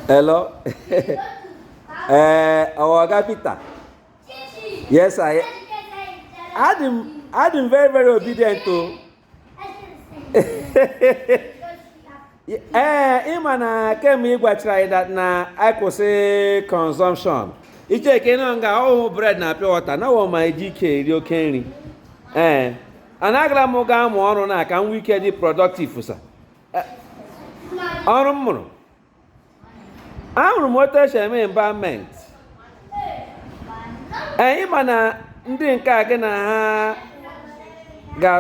Hello. Eh, our Oga Peter. Yes, sir. Adị m, adị m very, very obedient too. ee eh, ịma na kemgbe ị gwachara anyị that na anyị kwụsị consumption iche ka ịnọ nga ọhụụ bread na pure water na wọ ma eji ike eri oke nri ee eh, anagara m gaa mụọ ọrụ na ka m nwee ike dị productive sir ọrụ m mụrụ amụrụ m otu esi eme embalmment ee ị ma na ndị nke a gị na ha ga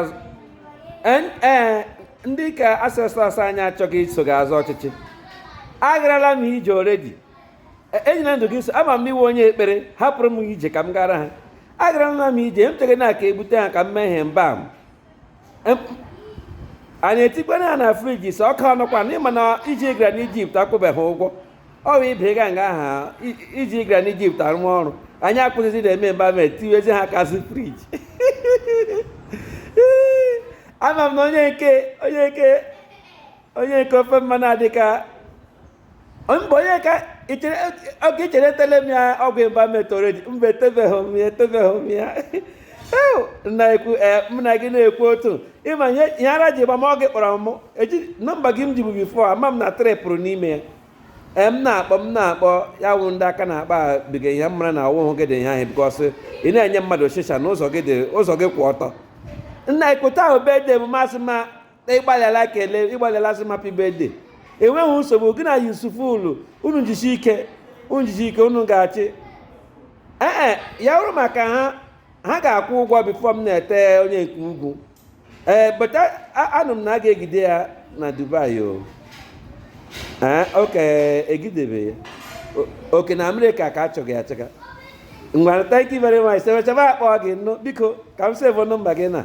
ndị ka ancestors anyị achọghị iso ga-azọ ọchịchị agarala m ije already e, enyela ndụ gị so ama m ị wụ onye ekpere hapụrụ m ije ka m gara ha agarala m ije m chere na ka ebute ha ka m mee ha embalm and etikwara ha na fridge so ọ ka ọnụkwa ịma na iji gara n'Egypt akwụbeghị ụgwọ ọ bụ ibe ga nga aha iji gara n'Egypt arụ ọrụ anyị akwụsịzi na-eme embalm etiwezi ha kasị fridge ama m na onye nke onye nke onye nke ofe mmanụ adịka mba onye ka oge ichere etele m ya ọgwụ embalmment already mba etebeghị m ya etebeghị m ya na-ekwu m na gị na-ekwu otu ịma ihe ara ji gba m ọ gị kpọrọ m eji nọmba gị m jibu before ama m na trepụrụ n'ime ya ee m na-akpọ m na-akpọ ya wụ ndị aka na-akpa biga ihe m mara na ọwụhụ gị dị ihe ahụ because ị na-enye mmadụ shishi na ụzọ gị kwụ ọtọ nna ekweta ahụ be dị m masị ma na ịgbalịala kele ịgbalịala sị mapi bede enweghị nsogbu gị na Yusuf ulu unu jisi ike unu jisi ike unu ga-achị ee ya bụrụ maka ha ha ga-akwụ ụgwọ before m na-ete onye nke ugwu ee beta anụ m na a ga-egide ya na Dubai o ee okay egidebe ya okay na America ka achọghị achọga ngwa thank you very much sebechaba akpọ gị nnụ biko ka m save nọmba gị na